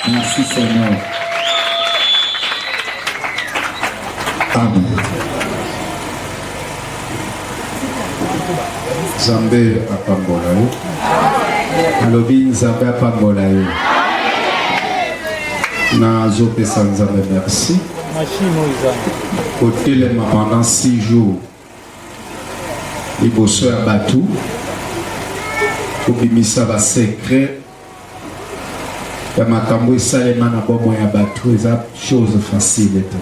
Merci Seigneur. Amen. Nzambe apambola yo. Alobi Nzambe apambola yo. nazopesa nzambe merci kotelema pendant 6 jours liboso ya bato kobimisa basekret ya makambo esalema na bomoi ya bato eza chose facile te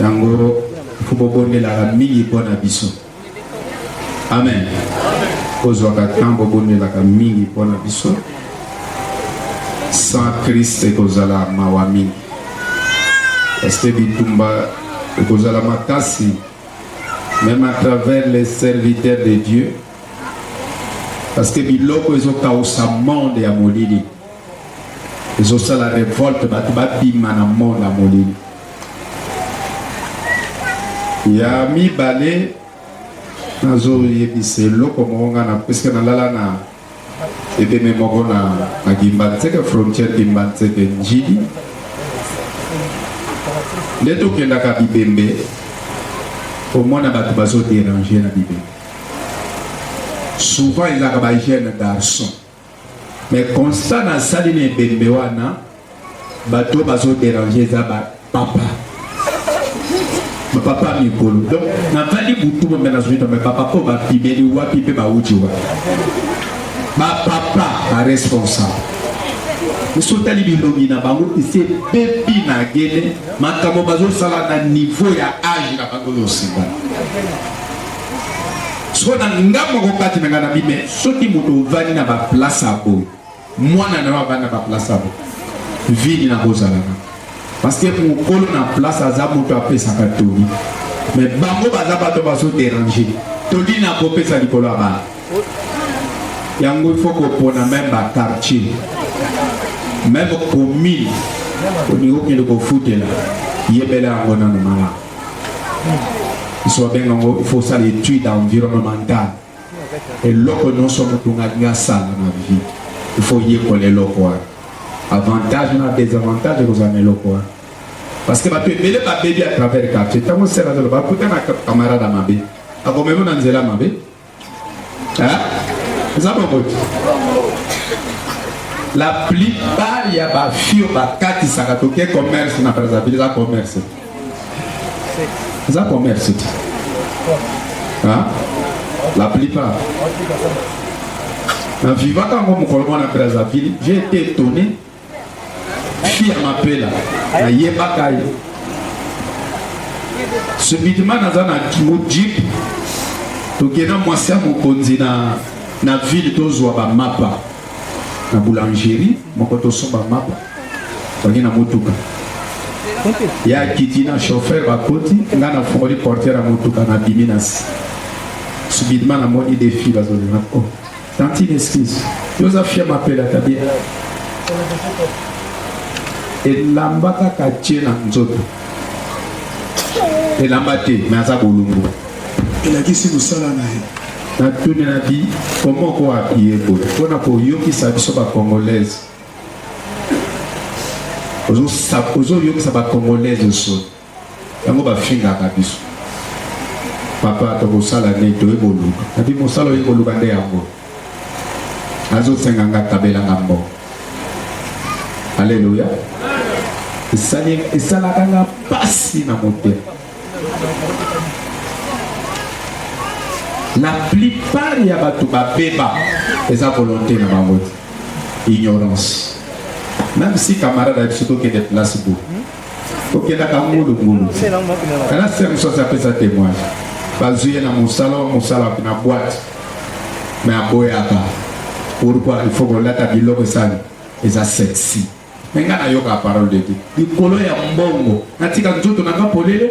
yango fo bobondelaka mingi mpo na biso amen kozwaka ntango bobondelaka mingi mpo na biso sans krist ekozala mawa mingi parceke bitumba ekozala makasi même à travers les serviteurs de dieu parce que biloko ezokausa monde ya molili ezosala revolte bato babima na monde ya molili ya mibale nazoyebisa eloko moko ngai na puiske nalala na ebeme moko na na gimbanzeke frontière gimbanzeke njili nde tokendaka bibembe komona bato bazoderange na bibembe souvent ezalaka ba jeune garçon mais constat nasali na ebembe wana bato bazoderange eza bapapa bapapa mikolo donc navandi butu bombe nazwi tome bapapa oyo bapimeli wapi mpe bauti wapi bapapa baresponsable biso otali bilongi na bango ese bebi na gene makambo bazosala na niveau ya age na bango yosika sikoyo na nga moko kati na nga na bime soki moto ovandi na baplace ya boye mwana na yo avandi na baplace ya boye vini nakozalaka parce que mokolo na place aza moto apesaka toli mais bango baza bato bazoderange toli nakopesa likolo ya bana yango ifo kopona meme bakartier meme commune olingi okende kofutela yebela yango nano malamu biso babenga yango il faut osala étude environnementale eloko nyonso motu ngalingi asala na vie il faut oyekola eloko wana avantage na désavantage ekozala na eloko wana parce que bato ebele babebi à travers quartier ntango sera zoloba akuta na camarade ya mabe akomema na nzela mabe Hein? eza bongo te la plupart ya bafio bakatisaka toke commerce na brazzaville eza commerce eza commerce te hein? la plupart na vivaka yango mokolo mwana brazzaville j'ai été étonné fille ya mapela nayebaka ye subitement naza na jeep tokenda mwasi ya mokonzi na, na ville tozwa bamapa na boulangerie moko tosomba mapa bangi na motuka ya kiti na chauffeur bakoti ngai nafongoli portere ya motuka na bimi nasi subitement namoni defi bazolina o oh. Tantine excuse. Yo oza fia mapela ta bien. Elamba kaka tie na nzoto. Elamba te, mais aza bolumbu. Elakisi mosala na ye. natuni na bi comment ko apiye boye mpo na koyokisa biso bacongolaise ozoyokisa bacongolaise osoni Yango ba fingaka biso. Papa tokosala nini toye koluka. Nabi mosala oye koluka nde yango. Azo senga nga kabela nga mbongo. Alléluia. Esali esalaka nga pasi na motema. La plupart ya bato babeba eza volonté na bango te. Ignorance. Même si camarade ayebi soki okende place boye tokendaka ngulungulu kana se mosusu aza apesa témoigne bazwi ye na mosala wa mosala na boite me aboyaka pourkui il faut kolata biloko esali eza sexy me ngai nayoka parole de dieu likolo ya mbongo natika nzoto na ngai polele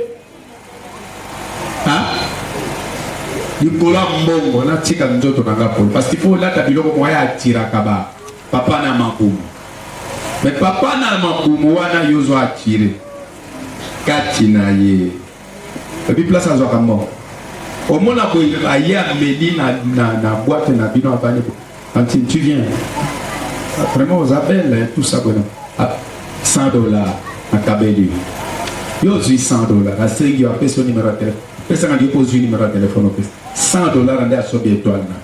likolo ya mbongo natika nzoto na nga polo parce qu'il faut olata biloko moko ya atiraka ba papa na mabumu me papa na mabumu wana yo ozo atire kati na ye ebi place azwaka mbongo omona boye aye ameli na, na, na bwate na bino abani Tantine, tu viens. Vraiment, aux appels, hein, tout ça, voilà. Ah, 100 dollars, à Kabeli. Yo, 100 dollars, à Sengi, à Pesso, numéro de téléphone. Pesa na yo kozwi numéro ya telefone opesa 100 dollars nde asobi etoile na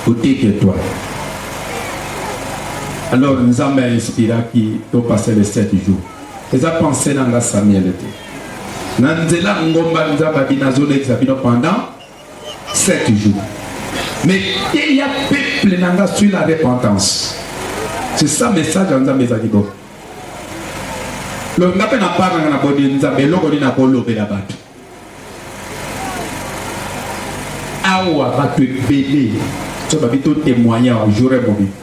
oteki etoile alors nzambe ainspiraki topase le 7 jour eza pense na nga samuel te na nzela ngomba nzambe abi nazolekisa bino pendant Sept jours. Mais teya peuple na nga suis la repentance. C'est ça message ya Nzambe ezali bo. Longa pe na part na boni Nzambe eloko nini akolobela bato. Awa bato ebele so babi to témoigner jour mobimba.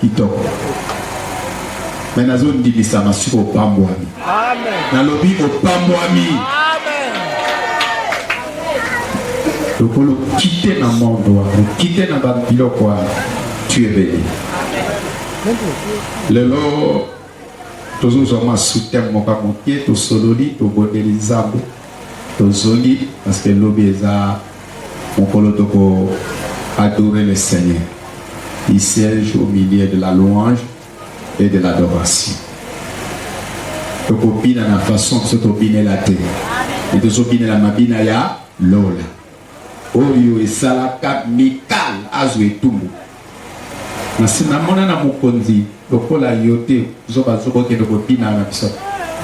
Kitoko. Mais nazo ndimisama siko opambwami. Amen. Nalobi opambwami. Amen. Lokolo kite na monde wana, kite na ba biloko wana. Tu es béni. Lelo Tozozwa mwa soutien moko ya moke, tosololi, tobondeli Nzambe, tozongi parce que lobi eza mokolo toko adorer le Seigneur. Il siège au milieu de la louange et de l'adoration. Tokobina na façon biso tobinela te, mais tozobinela mabina ya lola. Oyo esalaka Mikal azwa etumbu. Nasi namona na mokonzi lokola yo te, zoba zoba okende kobina na biso.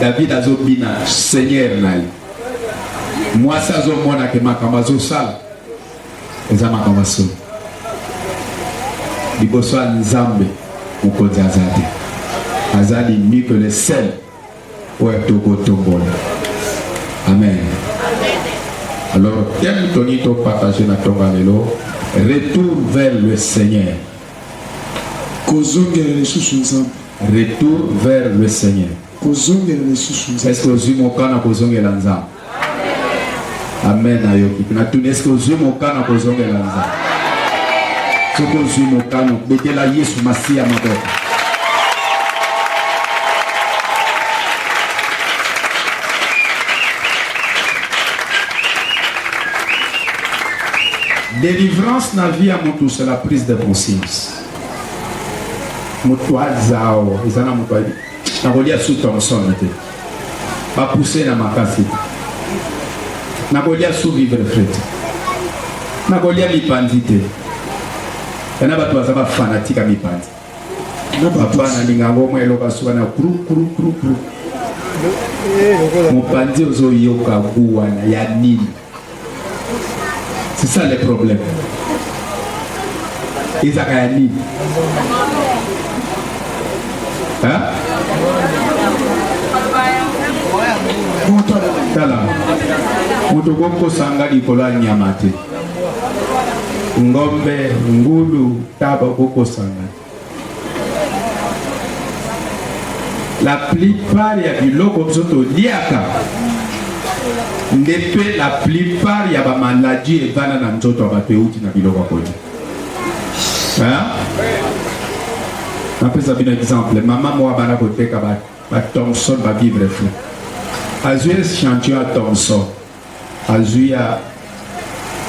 David azo bina seigneur na ye. Mwasi azo mona ke makambo azo sala eza makambo ya solo. Liboso ya Nzambe mokonzi aza te. Aza l'unique le seul. oyo ya tokotombola amen alors thème toni topartage na ntonga lelo retour vers le seigneur kozongela lisusu nzambe retour vers le seigneur kozongela lisusu nzambe eske ozwi mokana kozongela nzambe Amen, nayoki. Natuni eske ozwi mokano kozongela Nzambe? Soki ozwi mokano, betela Yesu Masiya maboko. Délivrance na vie ya moto c'est la prise de conscience. Moto aza awa eza na moto ayebi Nakolia su Thomson te. Ba pousser na makasi te. Nakolia su vivre frais te. Nakolia mipanzi te. Yana bato baza ba fanatique ya mipanzi. Papa nalinga yango mwa eloba suka na kru kru kru kru. Mopanzi ozoyoka gu wana ya nini? C'est ça le problème. ezaka ya nini tala moto kokosanga likolo ya nyama te ngombe ngulu taba kokosanga la plupart ya biloko biso toliaka nde mpe la plupart ya bamaladi evanda na nzoto ya bato euti na biloko ya kolia napesa bino exemple mama moko abanda koteka batomson bavivre fou azwi echantillon ya tomson azwi ya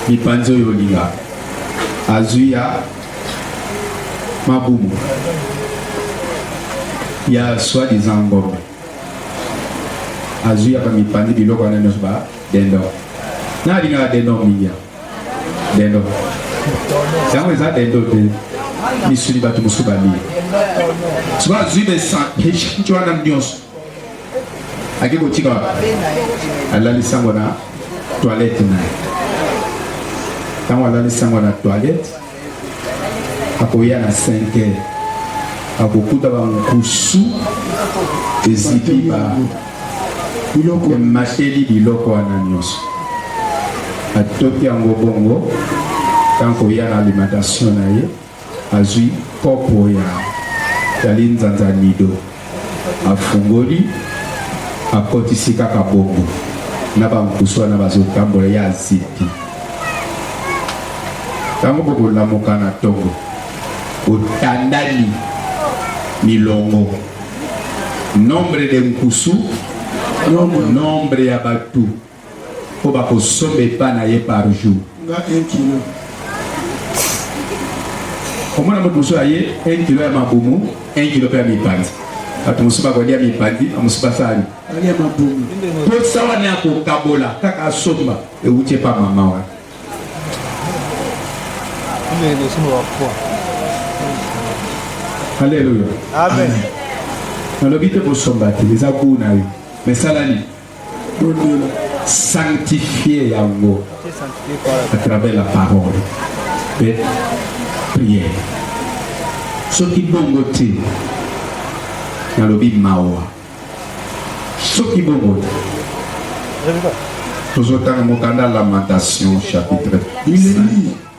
mipanzi oyo olinga azwi ya mabumu ya soit disant ngombe azwi ya bamipanzi biloko wana nyonso ba dendo na alingaka dendo mingi ya dendo yango eza dendo te misuni bato mosusu balie soki azwi besanti wana nyonso ake kotika alali sango na toilette na ye ntango alali sango na toilette akoya na 5 heures akokuta bankusu ezipi ba biloko emateli biloko wana nyonso atoki yango bongo ntango koya na alimentation na ye Azwi kopo ya ya linzanza ya Nido, afungoli, akotisi kaka bongo na ba nkusu wana bazotambola, ye azipi. Tango bokolamuka na tongo, botandani milongo, nombre de nkusu, nombre ya batu. Po bako somba epa na ye par jour. Nga un kilo. Omona mutu mosusu aye un kilo ya mabumu, un kilo pe ya mipanzi. Bato mosusu bakolia mipanzi, ba mosusu basali. Balia mabumu. Posa wana ya kokabola kaka asomba ewuti epa mama wana. Alleluia. Amen. Nalobi te kosomba te, eza gout na yo. Mais sala nini? Tondima. Sanctifier yango à travers la parole et prière. Soki bongo te, nalobi mawa. Soki bongo te. Tozotanga mokanda Lamentation chapitre 5.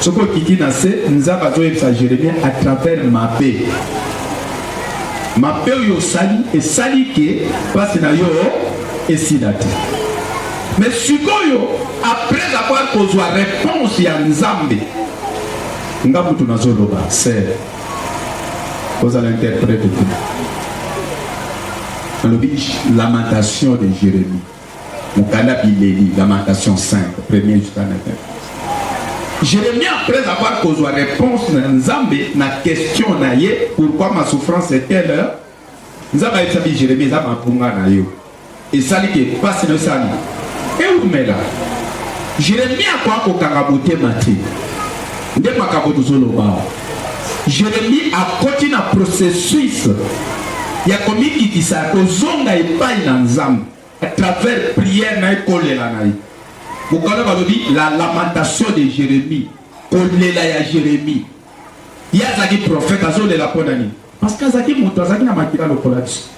soki okiti na se nzambe azoyebisa jeremie à travers mabe mabe oyo osali esali ke mpasi na yo esila te me sikoyo après avoir kozwa réponse ya nzambe nga mutu nazoloba ser kozala interprète te alobi lamentation de jérémie mokanda bileli lamentation 5 premier jusqu'à 9 Jérémie, après avoir causé la réponse na Nzambe na question na ye, pourquoi ma souffrance est telle heure, Nzambe a dit Jérémie, Nzambe a punga na yo. Et ça dit que passe le sali. Et où mais là Jérémie a quoi au karaboté maté. Nde makaboto zolo bao. Jeremi akoti na processus ya komikitisa ya kozonga epai na Nzambe à travers prière na ye kolela na ye mokano balobi la lamentation de Jeremi kolela ya Jeremi ye azalaki prophète azolela mpo na nini Parce que azalaki moto, azalaki na makila lokola biso.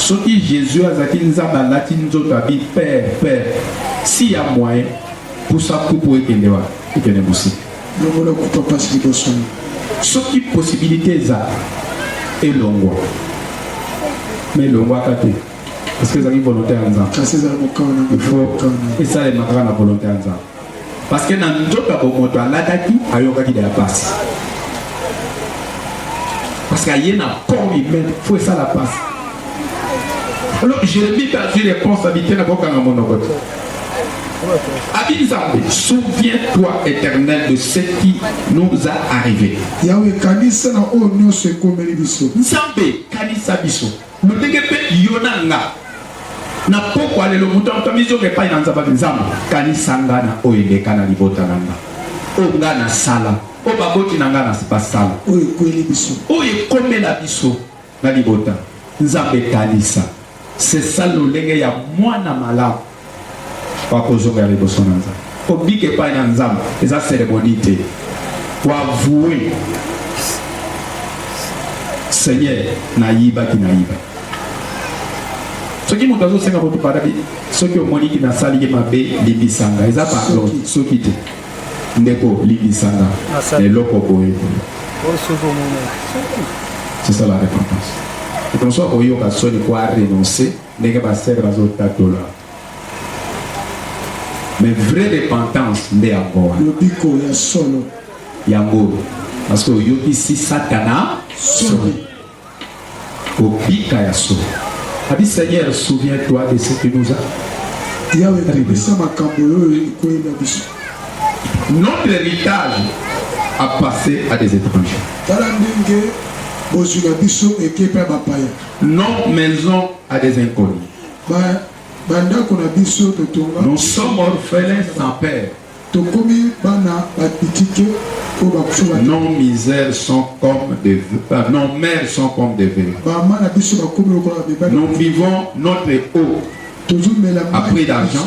soki jésus azalaki nzambe alati nzoto abi père père si ya moyen pusa kupu ekende wa ekende mosika longola kutu apasi liboso soki possibilité eza elongwa mais elongwaka te parce que ezalaki volonté ya nzambe esalemaka na volonté ya nzambe parce que na nzoto ya bomoto alataki ayokaki deya mpasi parce que aye na corps humain fo esala mpasi alors jérémie mpe azwi responsabilité na kokanga monoko te abi nzambe souviens toi éternel de ce qui nous a arrivé yawe kanisa na oyo nyonso ekomeli biso nzambe kanisa biso Lolenge mpe yo na nga na pokwa lelo moto ya moto amizonga epai na nzambe nzambe kanisa nga na oyo eleka na libota na nga oyo nga nasala oyo baboti na nga basala oyo ekweli biso oyo ekomela biso na libota nzambe kanisa sesa lolenge ya mwana malamu wa kozongela liboso na Nzambe, kobika epai na Nzambe eza ceremonie te, wa voue Seigneur, nayibaki nayiba. Soki moto azosenga moto padabi, soki omoni ki nasali ye mabe, limbisa nga, eza pardon, soki te ndeko limbisa nga na eloko boye c'est ça la repentance. Okoki koyoka soni ko renoncer Ndenge ba sœurs bazo tatola mais vraie repentance nde yango wana, lobiko ya solo yango parce que oyokisi Satana soni, obika ya solo. Abi Seigneur, souviens-toi de ce que nous avons. Yawe, kabisa makambo oyo ekoyela biso. Notre héritage a passé à des étrangers. Tala ndenge bozwi na biso eke mpe ya bapaya. Non maison à des inconnus. Ba bandako na biso totonga. Nous sommes orphelins sans père. Tokomi bana batitike ko bakufa ba. Nos misères sont comme des euh, nos mères sont comme des veuves. Ba mana biso bakomi lokola ba beba. Nous vivons notre eau. Tozomela. Après l'argent.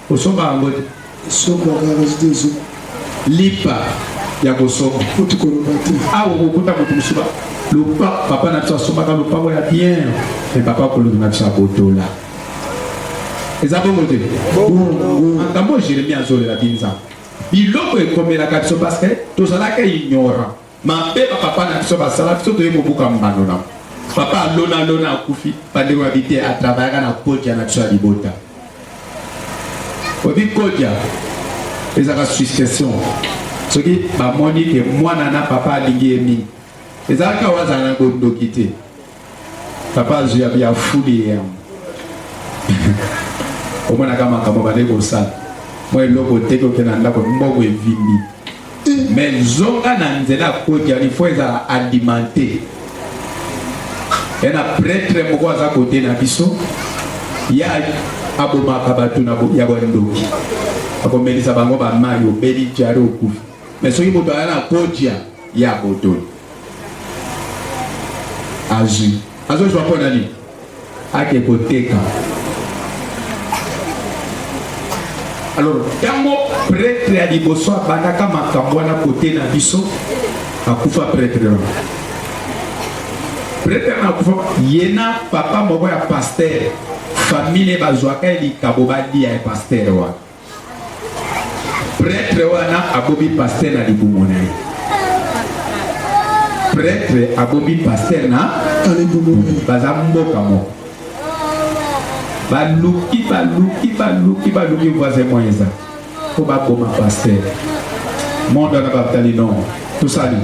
Kosomba yango te. Somba garage te ezo. Lipa ya kosomba. Kutu koloba te. Awa okokuta moto mosusu ba lopa papa na biso asombaka lopango ya bien me papa kolobi na biso abotola eza bongo te makambo jeremi azolela binza biloko ekomelaka biso parce que tozalaka ignorant mabe ba papa na biso basala biso toye kobuka mbano na papa alona alona akufi bandeko ya bite atravayaka na kodia na biso ya libota obi kodia ezalaka succession soki bamoni ke mwana na papa alingi ye mingi ezalaka oyo azala na bondoki te papa azwi ya biafuli ye yango omonaka makambo bande kosala mwa eloko teki oke na ndako mbongo evimbi me zonga na nzela koti yani fo ezala alimente ya na pretre moko aza kote na biso ya abomaka bato ya bandoki akomelisa bango bamai obeli jare okufi me soki moto aya na kotia ya botoli azwi azozwa mpo na nini ake koteka alors ntango pretre ya liboso abandaka makambo wana kote na biso akufa pretre wana pretre wana akufa ye na papa moko ya paster famille bazwaka ye likabo balia ya paster wana Pretre wana abomi pasteur na libumu na ye. Pretre abomi pasteur na libumu na ye. Baza mboka moko. Baluki, baluki, baluki, baluki voisin moyen eza. Faut bakoma pasteur. Monde wana batali non. Tosali.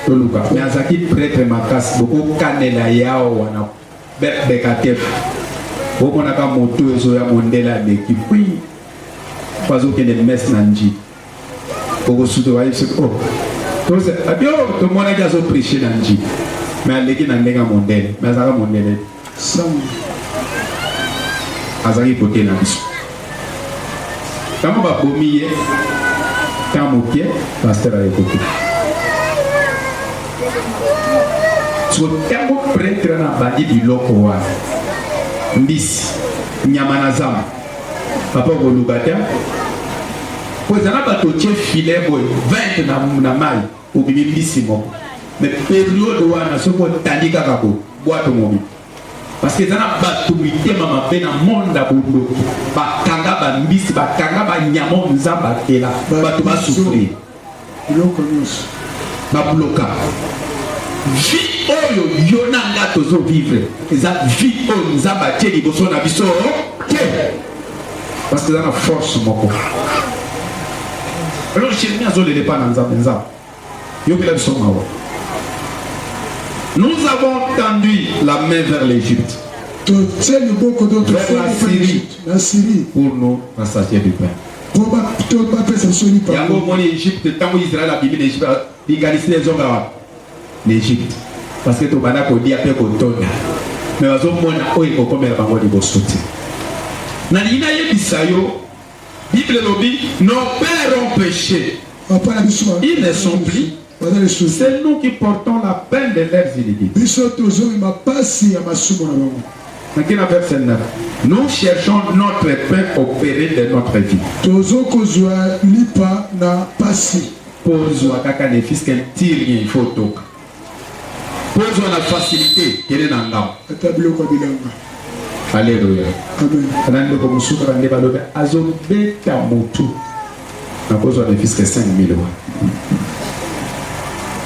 Toluka. Mais azaki pretre makasi. Bokokanela yawa na Bekatem omonaka moto ezoya mondele aleki pui bazokende messe na nji okosuka bayebisi o abio tomonaki azo prêche na nji me aleki na ndenge ya mondele me azalaka mondele azalaki kote na biso Tango babomi ye temps moke pasteur ayekoki so tango pretre na abandi biloko wana mbisi nyama na zamba papa okoluka te po eza na bato otie filet boye 20 na, na mai obimi mbisi moko me periode wana soki otandi kaka bo bwato mobili parce que eza na bato mitema mabe na monde ya bondoki bakanga bambisi bakanga banyamo nzambe atela bato basufrir biloko nyonso babloka vie oyo yo na nga tozovivre eza vie oyo nzambe atie liboso na biso te parce que eza na force moko alors jeremi azolela epa na nzambe nzambe Yokela biso mawa. Nous avons tendu la main vers l'Égypte. Vers la Syrie. La Syrie. Pour nous rassasier du pain. yango omoni egypte ntango israel abimi na egypte likanisi na ezonga wapi na egypte parce que tobanda kolia mpe kotonda me bazomona oyo ekokomela bango liboso te nalingi nayebisa yo Bible elobi nos pères ont péché. Papa na biso. Ils ne sont plus. Baza lisusu. C'est nous qui portons la peine de leurs iniquités. Biso tozongi mapasi ya masumu na bango. Naki na verset 9. Nous cherchons notre paix au péril de notre vie. Tozo kozwa lipa na pasi. Kozwa kaka ne fils qu'un tir il faut toka. Kozwa na facilité kende na ngao. Ata biloko bilanga. Alléluia. Amen. Ana ndeko mosusu kaka nde balobi azobeta motu na kozwa ne fiske 5000 wa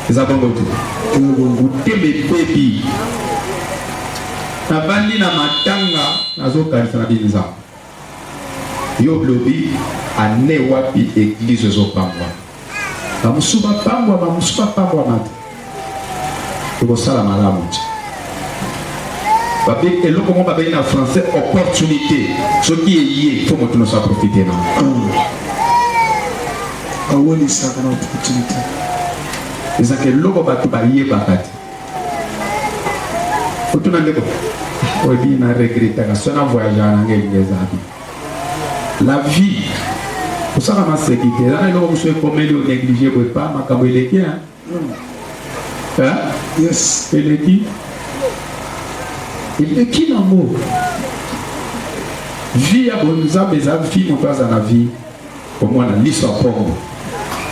eza bongo te motema ebebi nabandi na matanga nazokanisa na binzambe Yo olobi annee wapi eglise ozo pambwa? Ba mususu ba pambwa, ba mususu ba pambwama te. Tokosala malamu te. Babe eloko moko babengi na français opportunité. Soki eye, faut moto nyonso aprofite na yango. Awelisaka na opportunité. Ezaka eloko bato bayebaka te. otuna ndeko oyebi na regretaka so na voyagaka na ngai elingi eza bi la vie osaka maseki te eza na eloko mosusu ekomeli onéglige boye pa makambo eleki hein? Hein? yes eleki eleki nango vie ya bonzambe eza vie moto aza na vie Ba mwana liso ya pongo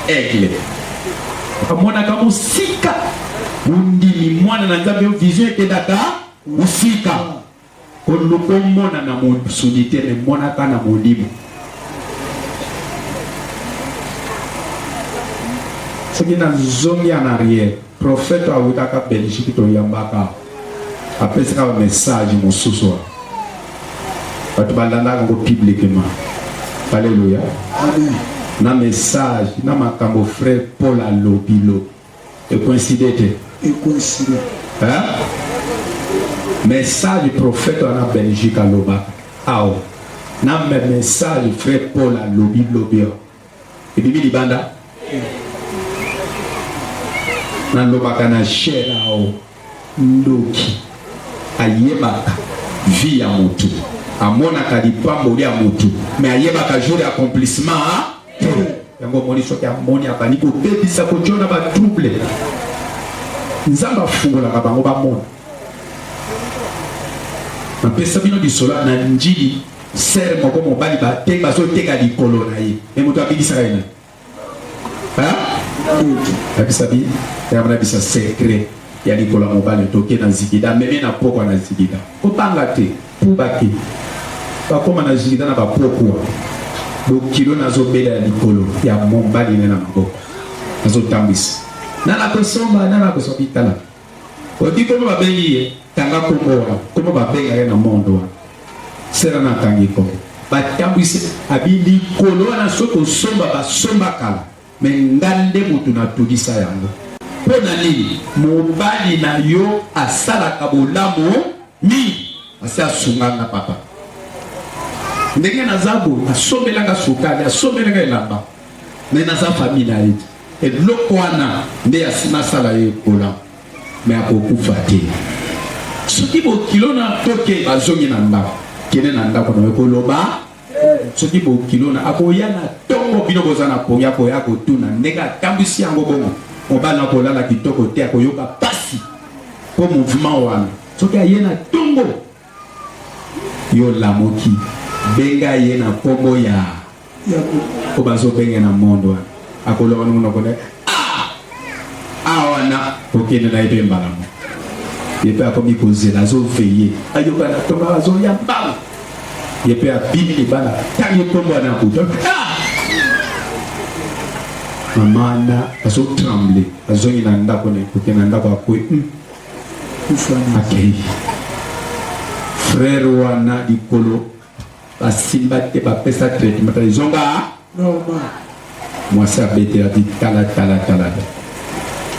aigle amonaka mosika ondimi mwana na nzambe yo vision ekendaka mosika oluka omona na mosuni te emonaka na molimo soki na zongi en arrière Prophète awutaka Belgique toyambaka apesaka ba message mosusu wana bato balandaka yango publiquement aleluya na message na makambo frère paul alobi lobi ekoincide te ekoincide message prophète wana belgique alobaka awa na message frère paul alobi lobi Ebimi libanda. Nalobaka na Gerao ndoki ayebaka vie ya motu amonaka lipamboli ya motu me ayebaka jour ya accomplissement te yango omoni soki amoni abandi kobebisa kojona batrouble nzambe afungolaka bango bamona napesa bino lisolo na njili Sœur moko mobali ba te bazo teka likolo na ye. Et moto abikisaka ye na. Hein? Abisa bi, ya mona bisa secret ya likolo ya mobali toke na zikida meme na pokwa na zikida. Kobanga te, puba te. Bakoma na zikida na bapokwa. Bokilo nazo bela ya likolo ya mobali na na maboko. Nazo tambwisa. Nana kosomba, nana kosomba bitala. Odi koma ba bengi ye tanga kombo wana koma ba benga ye na monde wana sera na tangi ko ba tambwisi abi likolo wana soki osomba ba somba kala me nga nde mutu na tulisa yango mpo na nini mobali na yo asalaka bolamu mingi asi asunga nga papa ndenge naza boye asombelanga sukali asombelanga elamba me naza famille na ye te Eloko wana nde asi nasala ye ekola me akokufa te. Soki bokilo na toke bazongi na ndako, kende na ndako na yo koloba soki bokilo na akoya na tongo bino boza na pongi akoya kotuna ndenge atambwisi yango bongo mobali na kolala kitoko te akoyoka mpasi mpo mouvement wana soki aye na tongo yo lamuki benga ye na kombo ya ko bazo benge na monde wana akoloba na monoko na ah! awa na kokende na ye mpe mbala moko ye mpe akomi kozela azoveye ayoka na tonga azoya mbala ye mpe abimi libala ntangi kombo wana akuta ah! mama na azotremble azongi na ndako na kokende na ndako akwe hmm. akei frere wana likolo basimba te bapesa traitement ezonga mwasi abetela ti talatalatala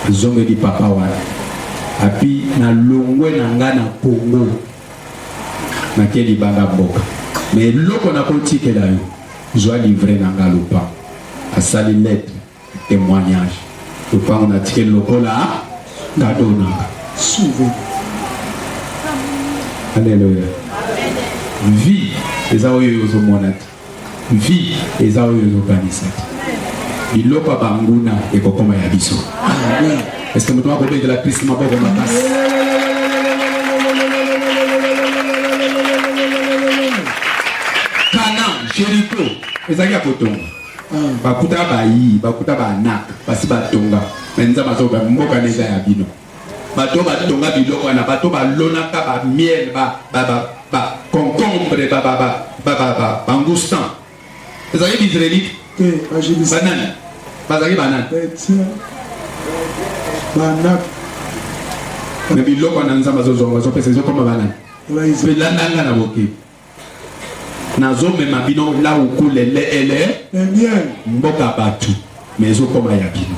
azongeli papa wana api na longwe na ngai na kongo nake libanda mboka me eloko nakotikela yo zwa livre na ngai lopango asali letre Temoignage. Lopango na tikeli lokola nga donaka. Souve. Alléluia. Vie eza oyo ozomona te. Vie eza oyo ozokanisa te. Biloko ya banguna ekokoma ya biso. Amen. Est-ce que moto akobetela Kristo maboko makasi? Kana, Jericho, ezalaki ya kotonga. Hmm, bakuta bayi bakuta banak basi batonga me nzambe azoba mboka na eza ya bino bato batonga biloko wana bato balonaka bamiel baconcombre bangustan ezali baisraelite banani bazali banani me biloko wana nzambe azozonga azopesa ezokoma banani mpe landanga na bokebi nazomema bino lauku lele ele mboka batu ma ezokoma ya bino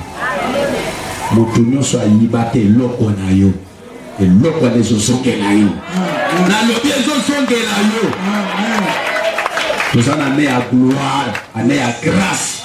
motu nyonso ayibaka eloko na yo eloko wana ezozongela yo nalobi ezozongela yo toza na ne ya gloire ane ya grace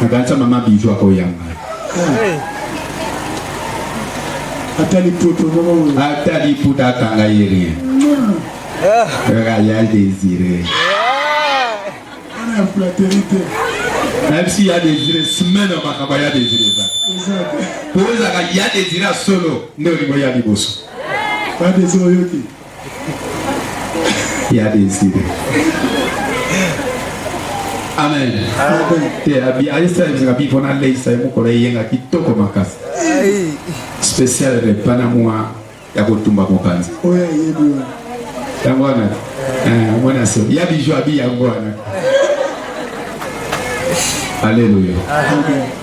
Nakanisa mama Bijou akoyamba. Ata liputa moko. Ata liputa akanga ye rien. Royal Désiré. Ana ya flatterie te. Même si ya Désiré semaine makambo ya Désiré eza. Kozaka ya Désiré solo nde olingo ya liboso. Ba Désiré oyoki. ya desire amen te ayesa ebizinga bi mpo naleisa ye mokolo eyenga kitoko makasi spécial repa na mwa ya kotumba mopanzi yango wana eh, omona so ya bijo abi yango wana aleluya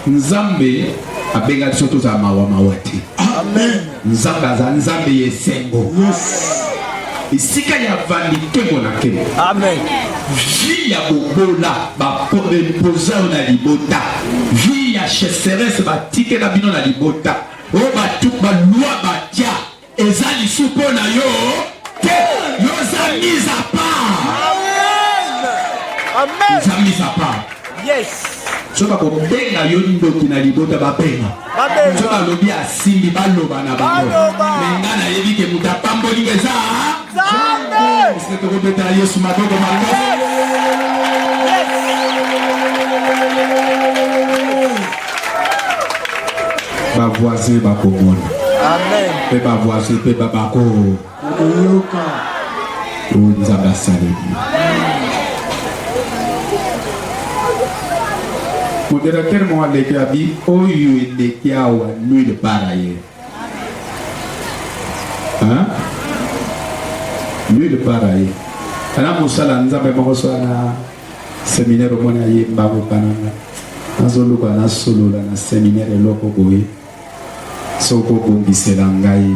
nzambe abengaki biso tozala mawa mawa te amen Nzambe azali Nzambe ya esengo. Esika ya vandi kembo na kembo. Amen. Vie ya bobola bapoza yo na libota. Vie ya cheseresse batikela bino na libota. Oyo batu balwa batya eza lisu mpo na yo te. Yo oza mise à part. Amen. Oza mise à part. Yes. soki bakobenga yo ndoki na libota babenga soki balobi asimbi baloba na bango me nga nayebi ke moto apamboli nga eza esike tokobetela yesu maboko mango bavoisin bakomona mpe bavoisin mpe babako oyo nzambe asaleli moderatere moko aleki abi oyo eleki awa nuile para ye nuile para ye ana mosala nzambe moko so ana seminaire omoni ayemba kokananga nazoluka nasolola na seminaire eloko boye Soki obongisela ngai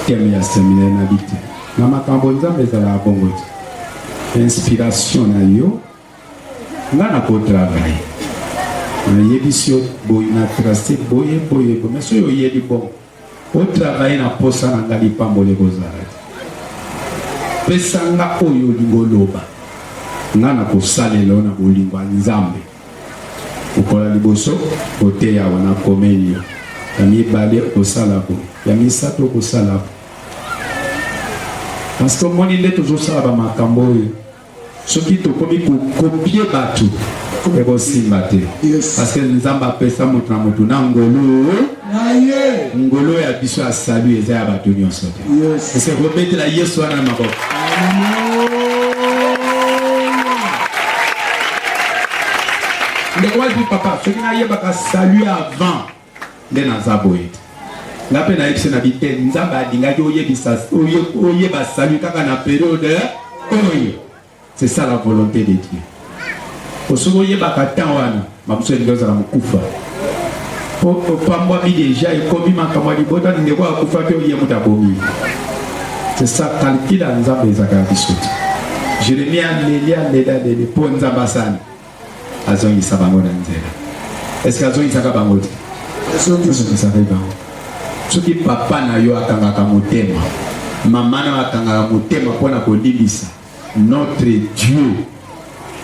teme ya seminaire na bi te na makambo nzambe ezalaka bongo te inspiration na yo nga na kotravaille nayebisi yo boye na trace boye boye boye mais soki oyebi bongo O travailler na posa na nga lipamboli ekozala te. Pesa nga oyo olingi oloba. Nga na kosalela yo na bolingo ya Nzambe. Mokolo ya liboso oteya awa na komeli yo. Ya mibale okosala boye. Ya misato okosala boye. Parce que omoni nde tozosala ba makambo oyo. soki tokomi kokopie bato ekosimba te parceke nzambe apesa moto na moto na ngolo ngolo ya biso ya salu eza ya bato nyonso te ese kobetela yesu wana na maboko ndeko wapi papa soki nayebaka salu avant Nde naza boye te. Nga mpe nayebisi na bite Nzambe alingaki oyebisa oyeba salut kaka na periode oyo. C'est ça la volonté de Dieu. Osoki oyebaka temps wana mamusu elingi ozala mokufa po opambwami deja ekomi makambo ya libota na ndeko akufa mpe oye moto abomi. C'est ça calcul ya Nzambe ezaka ya biso te. Jeremie aleli aleli aleli mpo Nzambe asali azongisa bango na nzela eske azongisaka bango te azongisaka bango soki papa na yo akangaka motema mama na akangaka motema mpo na kolimbisa notre dieu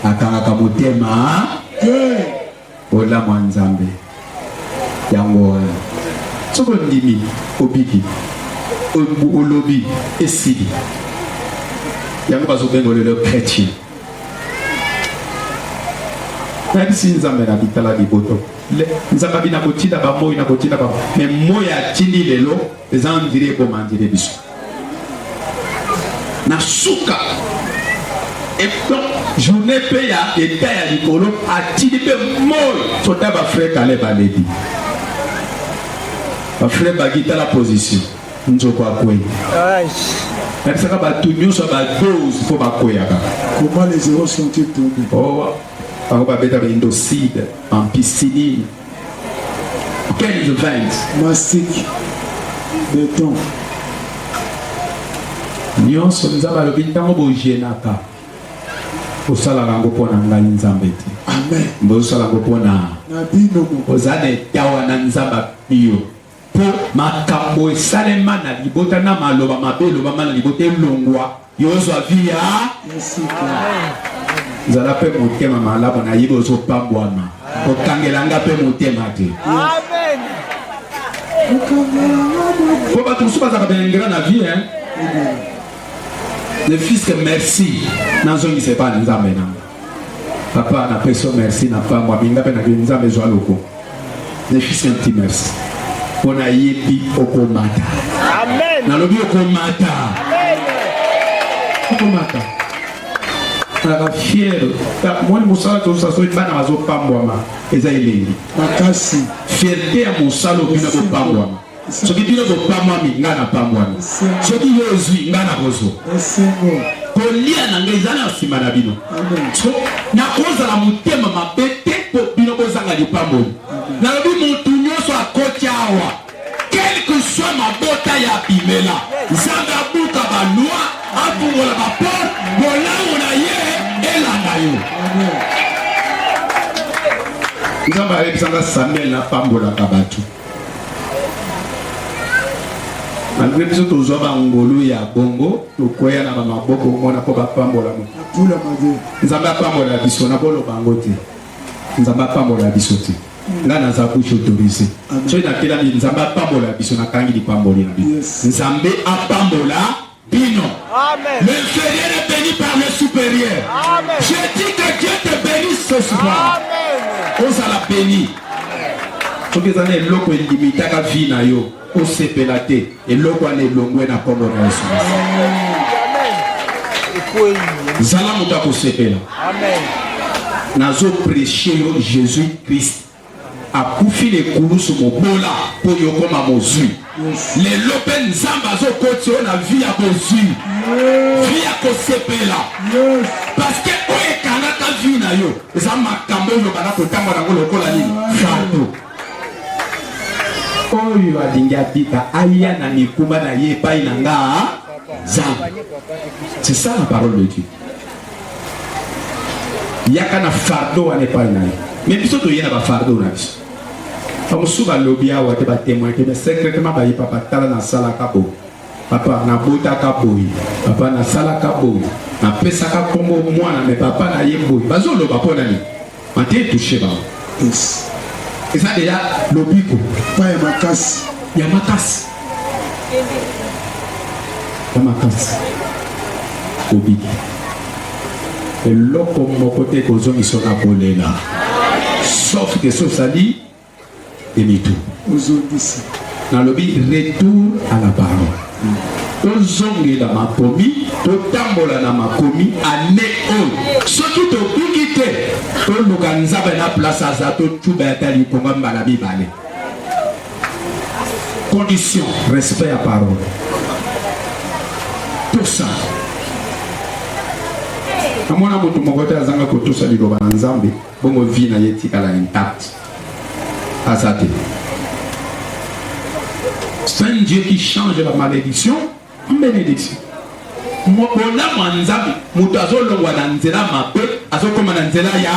akangaka motema te bolamu ya nzambe yango wana soki ondimi obiki olobi esili yango bazobenga lelo chrétien nayebisi nzambe na bitala liboto nzambe abi nakotinda bamoi nakotinda bango me moi atindi lelo eza ndiri eboma ndiri biso na suka donc journée mpe ya eta ya likolo atindi mpe moi soda bafrai kale balebi bafrai bagitala position nzoko akwei lakisaka bato nyonso ya badose mpo bakweyaka comment les zéros sont-ils tombés oh, bango babetaka indocide ampicilline quels vins mastic beton nyonso nzambe alobi ntango bojenaka osalaka yango mpo na ngai nzambe te bozosala yango mpo na ozala na etawa na nzambe apiyo Mpo makambo esalema na libota na maloba mabe elobama na libota elongwa, yo ozwa vie ya sika. Zala mpe motema malamu, nayebi ozopambwama, kokangela nga mpe motema te. Mpo bato mosusu bazalaka baingra na vie hein? le fils merci nazongisa epai na nzambe nanga Papa, na peso merci na pamba minga pe na ke nzambe zwa loko. Ne fils un petit merci. Pona yebi okomata. Amen. Na lobi okomata. Amen. Okomata. Tala fier. Ta moni musala to sa so bana bazo pambwama. Eza elengi. Makasi. Fierté ya musala obina ko pambwama. soki bino bopamwami ngai napamwami soki yo ozwi ngai nakozwa kolia na ngai ezali na nsima na bino nakozala motema mabe te mpo bino bozanga lipamboli nalobi motu nyonso akoti awa quelque soit mabota ya bimela nzambe abuka balwa afungola bapor bolamu na ye elanda yo nzambe ayebisanga samuel napambolaka bato malgre biso tozwa bangolu ya bongo tokweya na bamaboko mona mpo bapambolama nzambe apambola biso nakoloba yango te nzambe apambola biso te nga naza kushi autorise soki nakelami nzambe apambola biso nakangi lipamboli na bino nzambe apambola bino. Amen. L'inférieur est béni par le supérieur. Amen. Je dis que Dieu te bénisse ce soir. Amen. Ozala béni. soki eza na eloko elimitaka vie na yo osepela te eloko wana elongwe na nkombo na yesu zala moto ya kosepela nazopreche yo jésus christ akufi na ekulusu mobola mpo yo okoma mozwi lelo mpe nzambe azokoti yo na vi ya bozwi vi ya kosepela paske oyo ekangaka vi na yo eza makambo oyo bana kotangwa nango lokola nini fardo oyo alingi abika aya na mikumba na ye epai na nga nzambe c'est ça la parole de dieu yaka na fardo wana epai na ye me biso toye na bafardo na biso bamosusu balobi awa te batemoin te me secretement bayipa batala nasalaka boye papa nabotaka boye papa nasalaka boye napesaka nkombo mwana me papa na ye boye bazoloba mpo na nini Mate touche ba. Yes. Eza de la lobiko. Pa ya makasi. Ya makasi. Ya makasi. Lobiko. Eloko moko te kozongisa na kolela. Sauf que sosali demi-tour. Ozongisi. Nalobi retour à la parole. Tozongela makomi, totambola na makomi ane oyo. Soki tobuki te, toluka nzambe na place aza totuba ya tali konga mbala mibale. Condition, respect ya parole. Tosa. Namona moto moko te azanga kotosa liloba na nzambe. Bongo vie na ye etikala intact. Aza te. C'est un Dieu qui change la malédiction en bénédiction. Bolamu ya Nzambe, moto azolongwa na nzela mabe, azokoma na nzela ya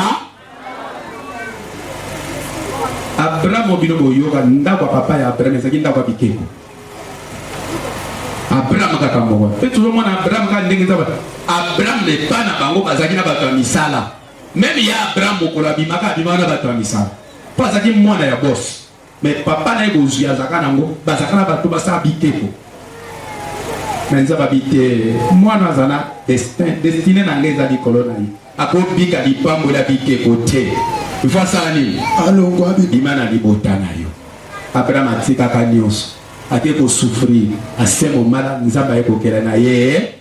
Abraham bino boyoka ndako ya papa ya Abraham ezalaki ndako ya bikeko. Abraham kaka moko. Mpe tozomona Abraham kaka ndenge Nzambe. Abraham epa na bango bazalaki na bato ya misala. Meme ya Abraham mokolo abimaka abimaka na bato ya misala mpo azalaki mwana ya bosi me papa na ye bozwi azalaka nango bazalaka na bato basala biteko me nzambe abi te mwana aza na destin destine na ngai eza likolo na ye akobika lipambo ya biteko te ifo asala nini alongwa bima na libota na yo abraham atikaka nyonso ake kosufrir asemo malamu nzambe aye kokela na ye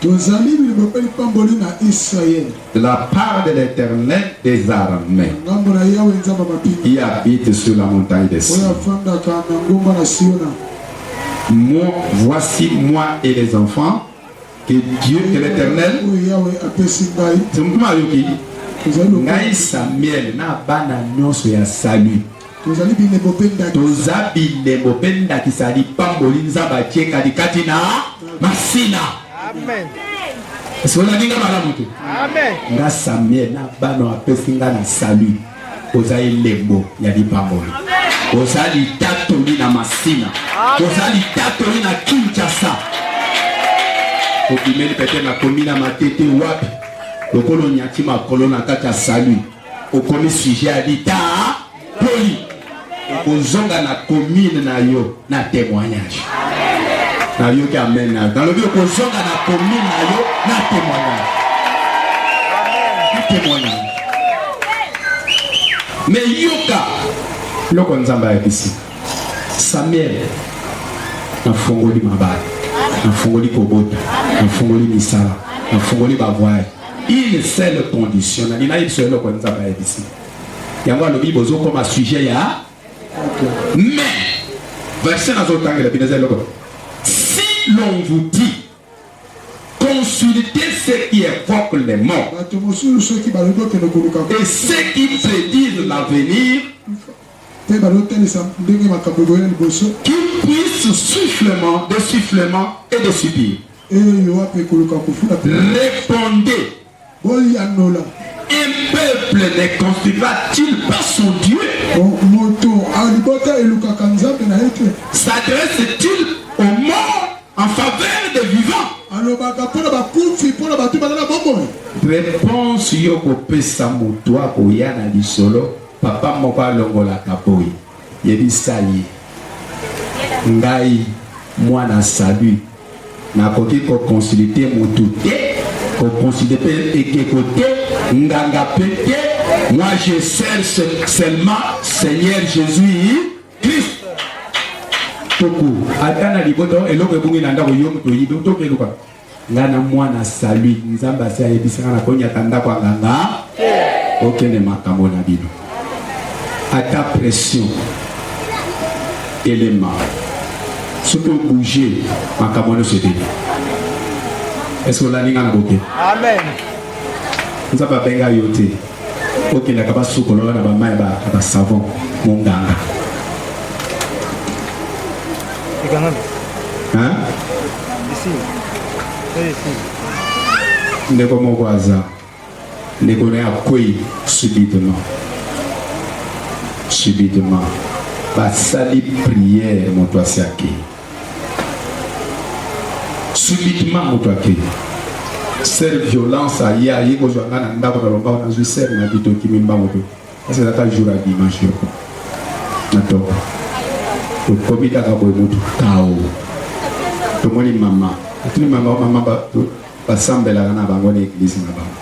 Tozali bilombe mpe lipamboli na Israël. De la part de l'Éternel des armées. Ngambo na Yawe Nzambe ya mampinga. Qui habite sur la montagne de Sion. Oyo afandaka na ngomba na Siona. Moi, voici moi et les enfants que Dieu que l'Éternel. Oyo Yawe apesi ngai. Tumtuma yoki. Ngai Samuel na bana nyonso ya salut. Tozali bilembo mpe ndakisa. Toza bilembo mpe ndakisa ya lipamboli Nzambe atie kati kati na masina. Amen. Esi olandi nga malamu te? Amen. Nga Samuel na bana apesi nga na salut. Oza elembo ya lipamboli. Oza litatoli na masina. Oza litatoli na Kinshasa. Obimeli pete nakomi na matete wapi? Lokolo nyati makolo na kati ya salut. okomi sujet ya litaa poli okozonga na commune na yo na témoignage nayoki amen nayo nalobi okozonga na commune na yo na témoignage témoignage me yoka loko nzambe ayebisi samuel nafungoli mabala nafungoli kobota nafungoli misala nafungoli bavoyage Une seule condition, na nina yebisa eloko nzambe ayebisi yango alobi bozokoma sujet ya mais verse nazotangela bino eza eloko si l'on vous dit consultez ceux qui évoquent les morts et ceux qui prédisent l'avenir mpe bazotalisa ndenge makambo ekoya liboso qui puisse soufflement de soufflement et de subir Oyo yo wapi ekoluka kofula pe. Repondez. Boyanola. Un peuple ne construira-t-il pas son Dieu? Moto alibota elukaka nzambe na ye te. S'adresse-t-il aux morts en faveur des vivants? Alobaka mpo na bakufi, mpo na bato bazala bomoi. Reponse yo kopesa moto akoya na lisolo, papa moko alongolaka boye. Yebisa ye, Ngai, mwana Salut, nakoki ko consulter mutu te, ko consulter pe ekeko te, nganga pe te, moi je cherche seulement Seigneur Jesus Christ. Toku, ata na libota eloko ebungi na ndako yo mutu oyibi, otoki eluka. Nga na mwana salut nzambe asi ayebisa nga nakonyata ndako ya nganga te bokende makambo na bino ata pression elema soki obouge makambo nyonso ebele eske olandi nga na boke nzambe abenga yo te okendaka basukolola na bamai ya basavon monganga ndeko moko aza ndeko na ye akwei subitement subitement basali priere moto asiaki subitement moto ake ser violence aye aye kozwa ngai na ndako na lombango nazwi ser na bitoki mimbango mpe kasi ezaka jour ya dimanche yoko na toka tokomi kaka boye moto kao tomoni mama atuni mama mama Basambelaka na bango na eglise na bango.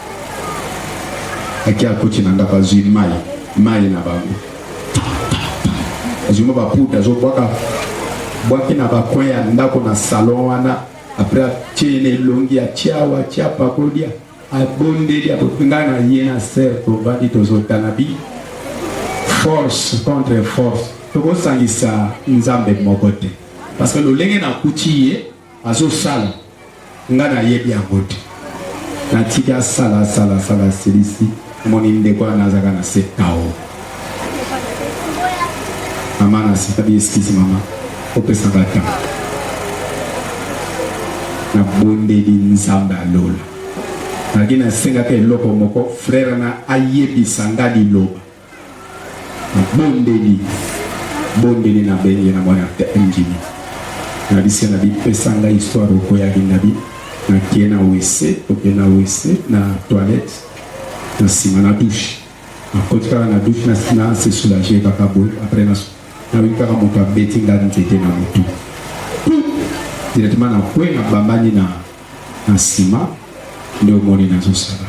Aki akoti na ndako azwi mai, mai na bango. Azwi mwa baputa azobwaka bwaki na bakoin ya ndako na salon wana apres atie na elongi atia awa atia apakolia abondeli ngai na ye na ser tovandi tozotana bi force contre force tokosangisa nzambe moko te parce que lolenge nakuti ye Azosala nga nayebi yango te natiki asala asala asala asilisi omoni ndeko wana azaka na se tao mama nasikabi eskisi mama opesaka ntango nabondeli nzambe ya lola nalaki nasengaka eloko moko frere na ayebisa nga liloba Nabondeli, bondeli na bengi na mwana te engini. Na bise na bipesa nga histoire okoyaki na bi na kie na wese oke na wese na toilette na sima na douche na koti kaka na douche na na se soulager kaka boye après na na wi kaka moto abeti nga nzete na mutu directement na kwe na bambani na Na sima nde omoni nazo sala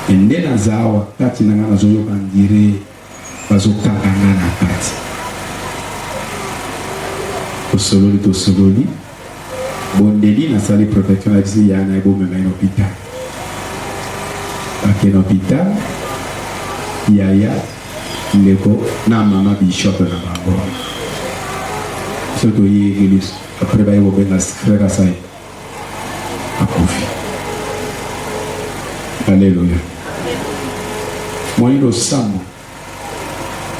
mais nde naza awa kati na nga nazo yoka on dirait bazo kanga nga na kati. Tosololi tosololi bondeli nasali protection nayebisi yaya naye bomema ye na hopital. Bake na hopital yaya ndeko na mama bishop na bango biso toye eglise après baye kobenga frère asai akufi. Aleluya! Moyi losambo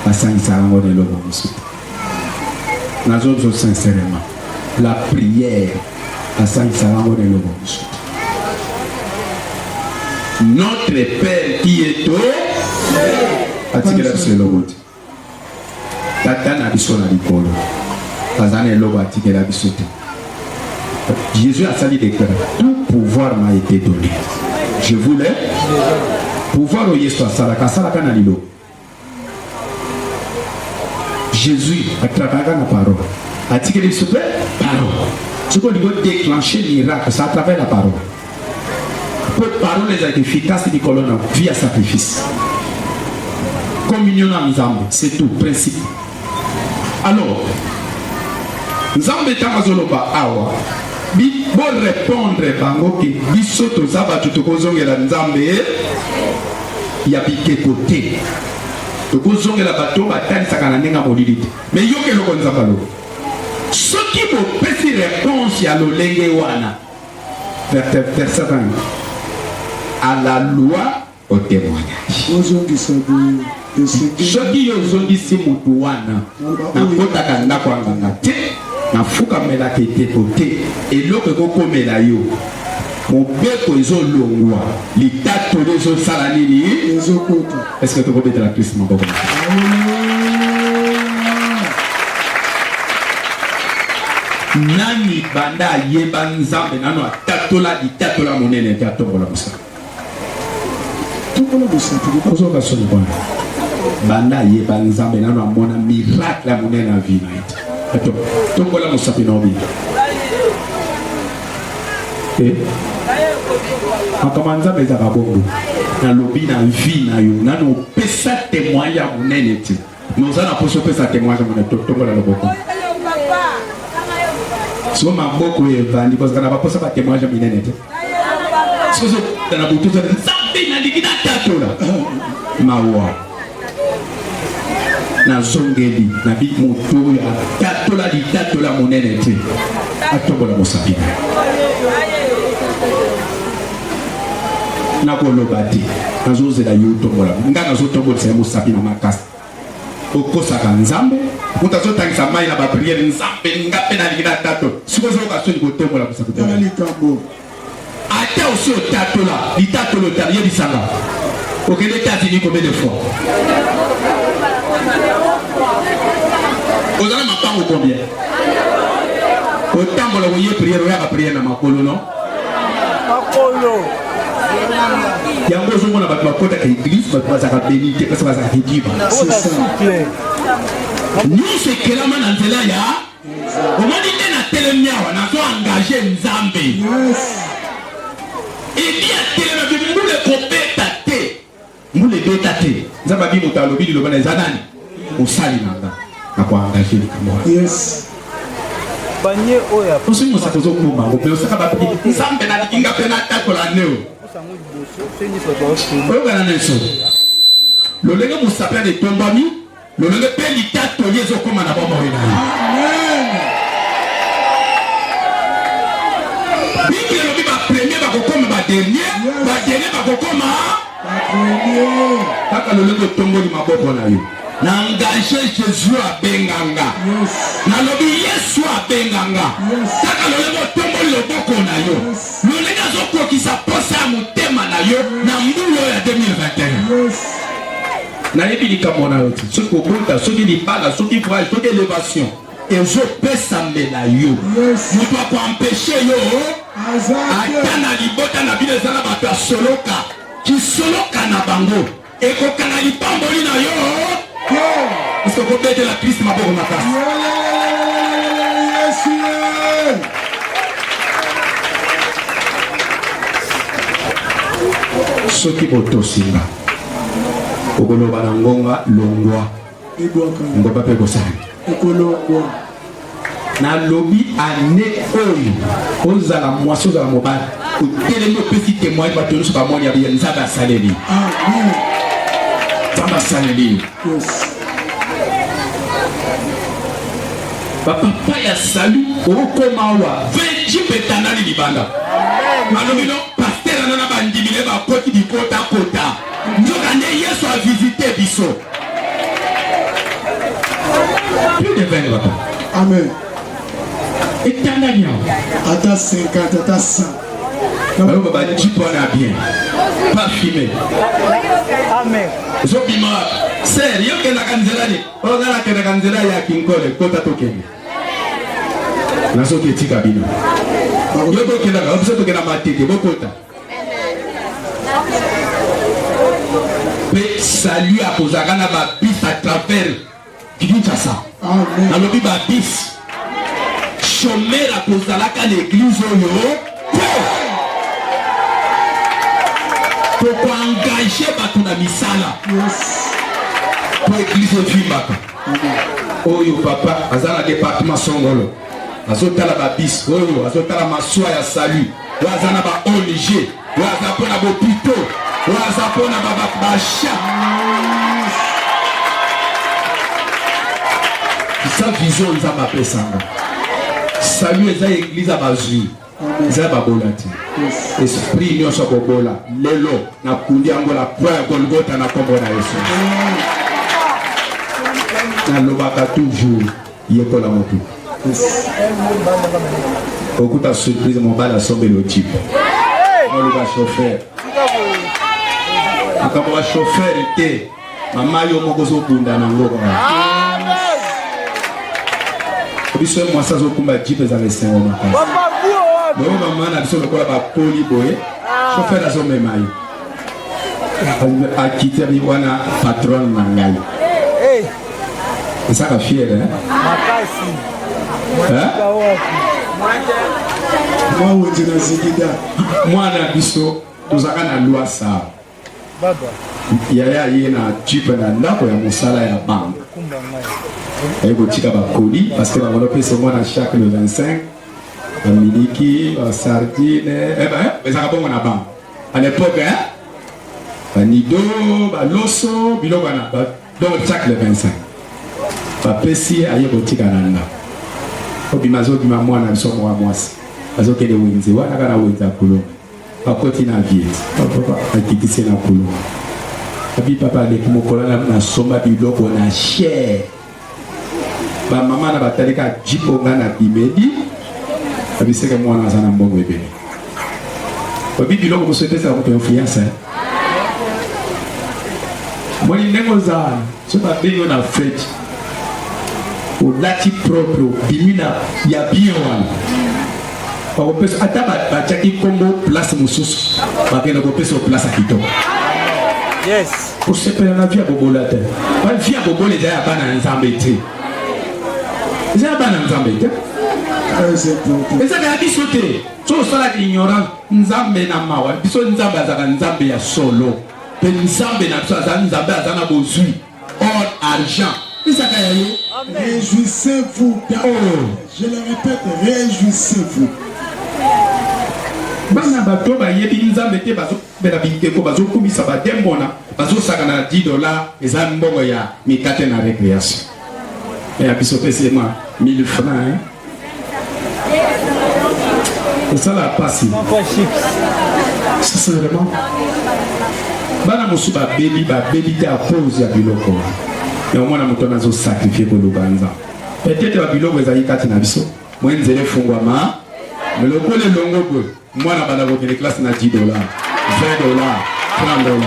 basangisaka yango na eloko mosusu te. Nazoloba sincèrement, la prière basangisaka yango na eloko mosusu te. Notre Père qui est aux cieux atikela biso eloko te. Tata na biso na likolo aza na eloko atikela biso te. Jésus asali deklara tout pouvoir m'a été donné. Je voulais pouvoir oyo Yesu asalaka asalaka na lilo. Jésus atrakalaka na parole atikeli biso mpe parole soki olingi odeclenche miracle sa travers la parole mpo parole ezalaka efficace likolo na vie ya sacrifice communion na nzambe c'est tout principe alors nzambe ntango azoloba awa borepondre bango ke biso toza bato tokozongela nzambe ya bikeko te tokozongela bato batalisaka na ndenge ya molili te me yoka eloko nzambe alobi soki bopesi reponse ya lolenge wana à la loi au témoignage soki yo ozongisi motu wana nakotaka ndako ya nganga te nafukamelaka eteko te eloko ekokomela yo mobeko ezolongwa litatoli ezosala nini ezokota Est ce que tu peux mettre la piste, mon papa Nani banda yeba nzambe nanu atatola litatola monene te atombola mosaka tokola bosantu ozoka soni bwana banda ayeba nzambe nanu amona miracle ya monene na vie na ye te tokola mosapi na obinga Eh? makambo ya nzambe ezalaka bongo nalobi na vie na yo nani opesa temoigne ya monene te mais oza na poso opesa temoigne ya monene totongola loboko so maboko evandi kozala na baposa batemoigne ya minene te soki ozokutana botuza nzambe nalingi natatola mawa nazongeli na bi moto oyo atatola litatola monene te atombola mosapi na nakoloba te nazozela yo otombola nga nazotombolisa ye mosapi na makasi okosaka nzambe moto azotangisa mai na bapriere nzambe nga mpe nalingi na tato sikozoyoka soni kotombola mosapi Ata osi otatola litatoli otala, yebisa nga okende Etats-Unis combien de fois? Ozala mapango combien? Otambola oye prière oyaka prière na makolo non? Makolo yango ozomona bato bakotaka eglise bato bazalaka beni te parce bazalaka kodiba nyonso ekelama na nzela ya omoni nde na telemi awa nazo engage nzambe eli atelema bimbula ekobeta te mbula ebeta te nzambe abi moto alobi liloba na eza nani osali na nga nakoengage likambo wana banie oyo ya osi mosaka ozokoma yango mpe osaka bapi nzambe nalingi nga mpe natakola neo oyokana na eso lolenge mosapi ana etombami lolenge mpe litatoli ezokoma na bomoi na yo biblia elobi bapremier bakokoma badernier badernier bakokoma kaka lolenge otomboli maboko na yo na engage jésus abenga nga nalobi yesu abenga nga kaka lolenge otomboli loboko na yo lolenge azokokisa mposa ya motema na yo na mbula oyo ya 2021 nayebi likambo na yo te soki kobota soki libala soki voyage soki elevation ezopesa mbela yo moto akoampeshe yo ata na libota na bino ezala bato ya soloka kisoloka na bango ekokana lipamboli na yo parce okobetela kristu maboko makasi soki botosi nga okoloba na ngonga longwa ngomba mpe kosala ekolongwa nalobi ane oyo ozala mwasi ozala mobali otelemi opesi temoigne bato nyonso bamoni ya biya nzambe asaleli nzambe asaleli bapapa ya salu okoma awa venji mpe etanali libanda malobi no paster ana na bandimi ne bakoti bikotakota nzoka nde yesu avisite biso plus de 20 papa amen etanali yango ata 50 ata 100 Baloba ba type wana bien. Pas fumé. Amen. Zobima wapi? Sir, yo kendaka nzela nini? Oyo nga nakendaka nzela ya Kinkole, kota tokende. Nazoki etika bino. Yo bokendaka, biso tokenda matete, bokota. Pe salut akozalaka na ba bus à travers Kinshasa. Nalobi ba bis. Chomera kozalaka na eglise oyo te. Tokoengage bato na misala. Po eglise evimbaka. Oyo papa aza na departement songolo. azotala babis oyo azotala maswa ya salut oyo aza na ba ong oyo aza mpo na bopito oyo aza mpo na basha sa vision nzambe apesanga salut eza eglize ya bazwi eza babola te esprit nyonso bobola lelo nakundi yango na kwa ya golgota na nkombo na yesu nalobaka toujours yekola motu okuta surprise mobali asombeli otipe noluka chauffeur makambo ya chauffeur te Mama yo moko ozobunda na ngo biso mwasi azokumba jipe ezala esengo makasi boye mama na biso lokola bakoli boye ah. shofer azomema ye akiteli wana patron na ngai esaka fiere mwa wenze na zigida mwana biso tozalaka na lwasa yaya aye na jipe na ndako ya mosala ya banke aye kotika bakoli parceke bango napesa mwana chaque le 25 bamiliki basardine eh eh, eh, ezaka bongo na banke à l'époque hein? banido baloso biloko wana donc chaque le 25 bapesi aye kotika na ndako obima azobima mwana biso mwa mwasi azokende wenze wana kaka na wenze ya kolonga Bakoti na vie. Papa akitise na kulo. Abi papa aleki mokola na nasomba biloko na cher. Ba mama na batali ka jipo nga na bimedi. Abi seke mwana aza na mbongo ebele. Babi biloko mosusu epesaka moto influence. Moni ndenge oza soki babengi yo na fete olati propre obimi na ya bien wana bakopesa ata batiaki nkombo place mosusu bakende kopesa place ya kitoko yes kosepela na vi ya bobola te bavi ya bobola eza ya bana ya nzambe te eza ya bana ya nzambe te eza kaya biso te so osalaka ignorance nzambe na mawa biso nzambe azalaka nzambe ya solo mpe nzambe na biso aza nzambe aza na bozwi or argent ezaka ya yo réjouissez-vous oh. je le répète réjouissez-vous bana bato bayebi nzambe te bazobela bindeko bazokumisa bademona bazosakana na 10 dollars eza mbongo ya mikate na récréation ya biso pesi mwa 1000 francs kosala pasi sincèrement bana mosusu babebi babebi te a cause ya biloko yango mwana moto wana azosakrifie koloba nzambe peut-être babiloko ezali kati na biso mwe nzela efungwama lokola elongo boye mwana banda kokende classe na 10 dola 20 dola 30 dola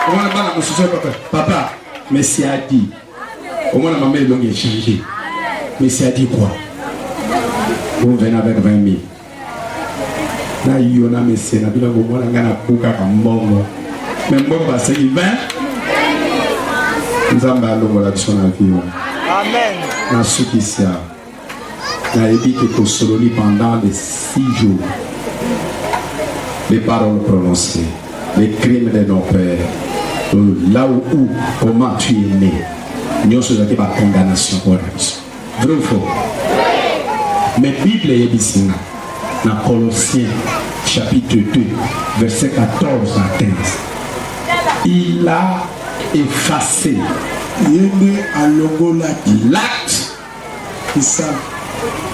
omwana bana mosusu papa papa mesi adi omwana mama elongi echange mesi adi kua omvena avec 20 mille na yo na mesi na bino komona ngai nabukaka mbongo me mbongo baseki 20 nzambe alongola biso na vie wana nasukisi awa nayebi ke tosololi pendant de six jours les paroles prononcées les crimes de nos pères euh, là où, où comment tu es né nyonso ezalaki bacondamnation mpo na biso vrai ou faux mais bible eyebisi nga na colossien chapitre 2 verset 14 à 15 il a effacé ye nde alongolaki l'acte Kisa.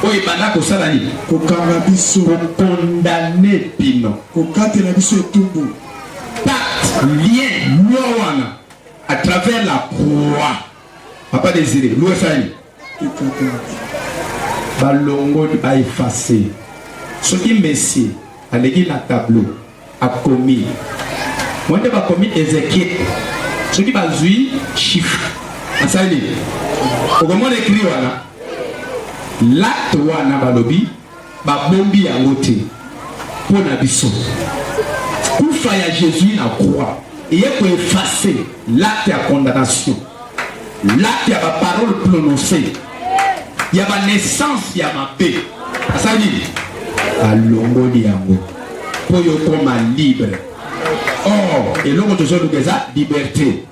Oyo ebanda kosala nini? Kokanga biso. Kokondane bino. Kokatela biso etumbu. Pacte, lien, loi wana à travers la croix. Papa Désiré, loi esali. Balongoli ba effacer. Soki Messi aleki na tableau. akomi wende bakomi ezekiel soki bazwi chiffre asali nini okomona ekri wana late wana balobi babombi yango te mpo na biso kufa ya jésus na croix eye koefase late ya condamnation Lati ya ba parole prononce ya ba naissance ya mabe asali nini? Alongoli yango mpo yo okoma libre. Or eloko tozoluka eza liberte.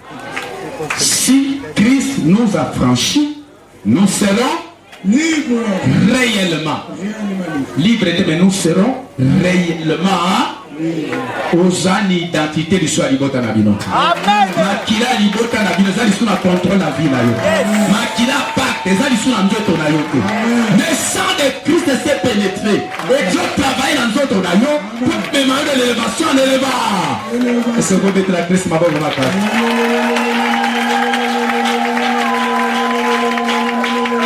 Si Christ nous a franchi Nous serons libres réellement. Libre te mais nous serons réellement oza na identité lisu ya libota na bino makila ya libota na bino eza lisu na contrôle na vie na yo makila pacte eza lisu na nzoto na yo te le sang de christ se pénétré ezo travaille na nzoto na yo Mema yo na elevation na eleva. Ese okobetela Kristo maboko makasi.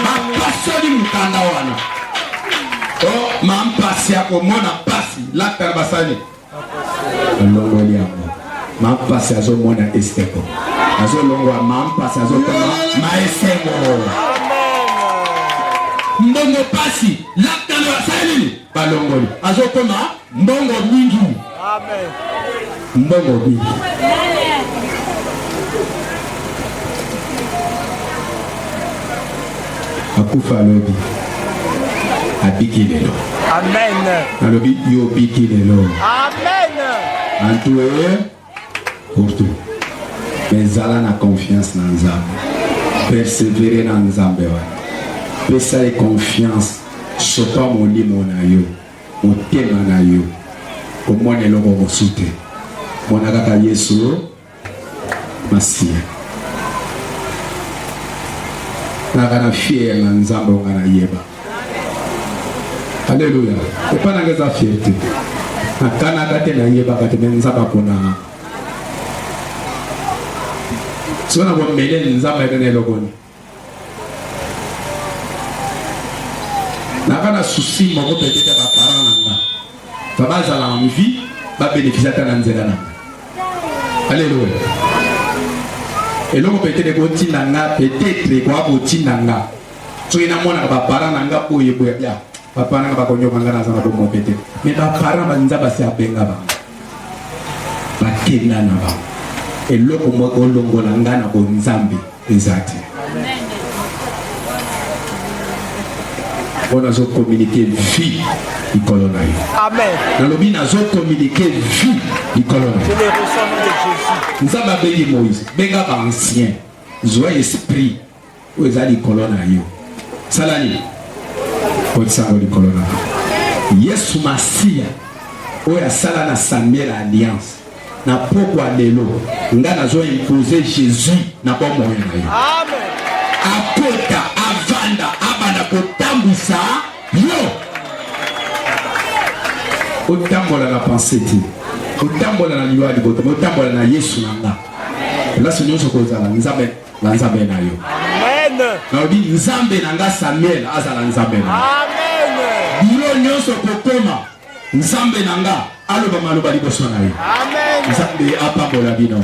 Bapasoli mokanda wana. O oh, ma mpasi ya komona mpasi lata na basani. Alongoli yango. Ma mpasi azomona esteko. Azolongwa ma mpasi azotoma ma esengo. Mbongo mpasi lata na basani. balongoli azokoma mbongo mingi mbongo mingi akufa alobi abiki lelo nalobi yo obiki lelo antue Kurtu. Mais zala na confiance na Nzambe. Persévérer na Nzambe wana. Pesa ye confiance. Sopa molimo na yo. Motema na yo. Omona eloko mosusu te. Mona kaka Yesu Masiya. Kaka na fier na Nzambe onga na yeba. Alléluia. Et pas dans sa fierté. Na Canada te na yeba ka te mais nzaba pona. Sona bo mele nzaba ebe na elokoni. Na kana souci mo ko petite ba parents na nga. Ba bazala en vie, ba bénéficier ta na nzela na. Alléluia. eloko petete kotinda nga petete ekoya kotinda nga soki namonaka baparent na nga boye boye ya baparent nga bakonyoka nga naza na bomoke te me baparent banza basi abenga bango bakenda na bango eloko moko olongola nga na bonzambe eza te mpo nazokominike vi likolo na yo nalobi nazokominike vi likolo na yo nzambe abengi moïse benga baancien zwa esprit oyo eza likolo na yo sala nini kotisa yango likolo na yo yesu masiya oyo asala na samuel alliance na pokwa lelo nga nazo impose jésus na bomoi na yo akota avanda abanda kotambwisa yo otambola na pense te otambola na liwa liboto otambola na yesu na nga place nyonso kozala nzambe na Nzambe na yo. Amen. Nalobi Nzambe na nga Samuel azala Nzambe na. Amen. Biro nyonso kokoma Nzambe na nga aloba maloba liboso na yo. Amen. Nzambe apambola bino.